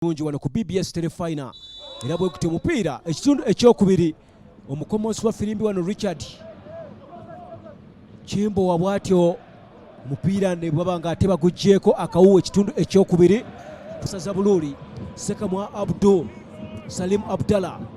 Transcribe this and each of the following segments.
bulungi wano ku bbs telefina era bwe kuti omupiira ekitundu ekyokubiri omukomonsi wa firimbi wano richard kimbowa bwatyo omupiira ne bwaba nga ate baguggyeko akawuwa ekitundu ekyokubiri kusaza buluuli sekamwa abdul salim abdallah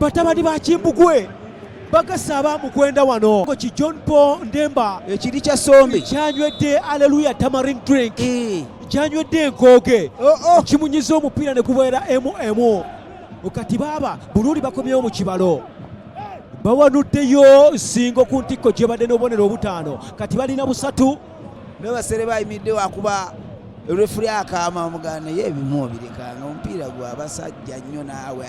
batabani ba kimbugwe bagasa aba mukwenda wano ki john paul ndemba ekiri kya sombi kyanywedde aleluya tamarin drink eh. kyanywedde enkooge oh, oh. kimunyiza omupiira ne gubeera emu emu kati baaba buluuli bakomyewo mu kibalo bawanuddeyo nsingo ku ntikko gyebadde n'obubonero obutaano kati balina busatu naye basere bayimidde wakuba refuli akaama omugana naye ebimu obirekanga omupiira gwa basajja nnyo naawe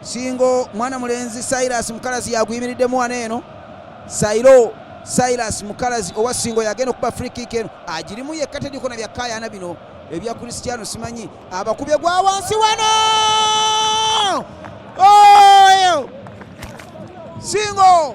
Singo mwana mulenzi Silas Mukalazi yaguyimiriddemu wano eno Sairo Silas Mukalazi owa Singo yagenda okuba free kick eno agirimu yekka tediko na byakkayaana bino ebya Cristiano simanyi abakubye gwa wansi wano oyo Singo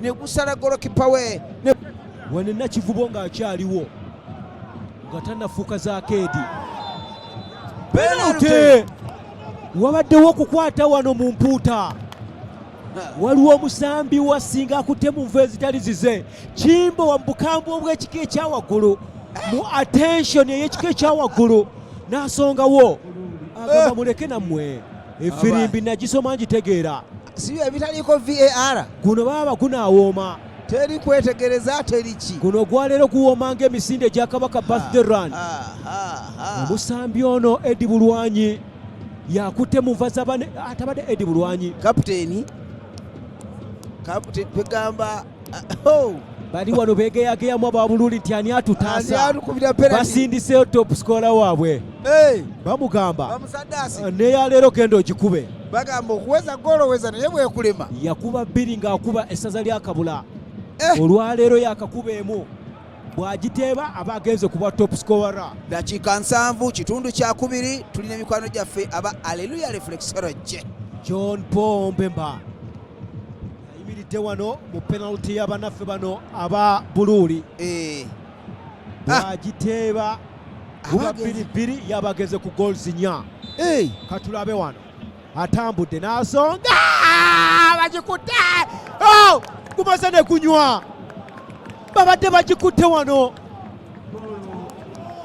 negusala golokipa we wano nakivubo ng'akyaliwo nga tanafuuka za keedi penalty wabaddewo okukwata wano mu mpuuta waliwo omusambi wasinga akutte mu nvu ezitali zize kimbo wa mubukambwe obw'ekika ekyawaggulu mu attention ey'ekika ekyawaggulu n'asongawo agamba muleke nammwe efirimbi nagisoma ngitegeera siyo ebitaliiko var guno baaba gunaawooma teri kwetegereza teriki guno gwaleero guwooma ng'emisinde egya kabaka birthday run omusambi ono edi bulwanyi yakutte mu nva zabane atabadde ah, edi bulwanyi kapiteeni kapite kwegamba Ah, oh. bali wano begeyageyamu ababululi nti ani atutasabasindiseyo top scola waabwe bamugamba ah, neyaleero genda ogikube bagamba okuweza goloweza naye bwekulema yakuba bbiri ng'akuba essaza lyakabula eh. olwaleero yakakuba emu bwagiteeba aba agenze kuba top scorer dakiika nsanvu kitundu kyakubiri tulina emikwano gyaffe aba aleluya reflexology john paul mpemba ayimiridde wano mu penalty ya banaffe bano aba buluuli eh. bwagiteeba guba ah. bbiri bbiri yabageze ku goals nya eh. katulabe wano atambudde n'asonga ah, bagikutte oh! gumaze ne kunywa babadde bagikutte wano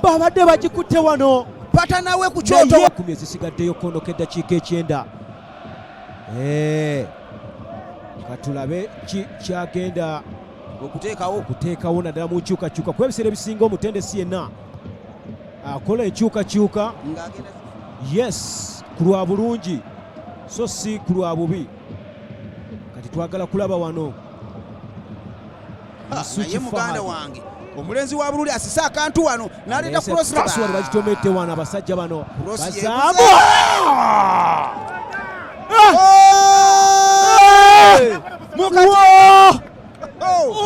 babadde bagikutte wano pata nawe ku kyoto kumi ezisigaddeyo konoka eddakiika ekyenda eh. katulabe ki kyagenda okuteekawo okuteekawo naddala mu nkyukakyuka kuba ebiseera ebisinga omutendesi yenna akola enkyukakyuka yes ku lwa bulungi so si ku lwa bubi kati twagala kulaba wano Ah, naye muganda wange omulenzi wa bululi asise akantu wano naleeta crosswali bakitomedde wano abasajja bano bazamu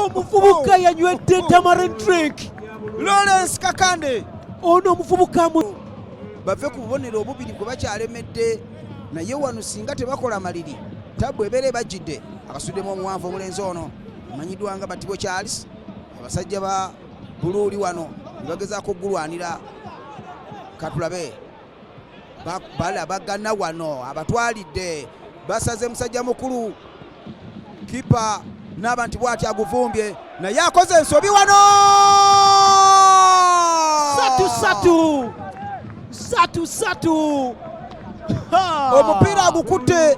omuvubuka yanywedde tamaren drink lawrence kakande ono omuvubuka bave ku bubonero obubiri gwe bakyalemedde naye wano singa tebakola maliri tabbu ebeera ebajjidde akasuddemu omuwanvu omulenzi ono Amanyiddwa nga Batibo Charles, abasajja ba Buluuli wano ne bagezaako okugulwanira katulabe balabagana wano abatwalidde basaze musajja mukulu kipa naaba nti bwati aguvumbye naye akoze ensobi wano satu satu satu satu omupiira agukutte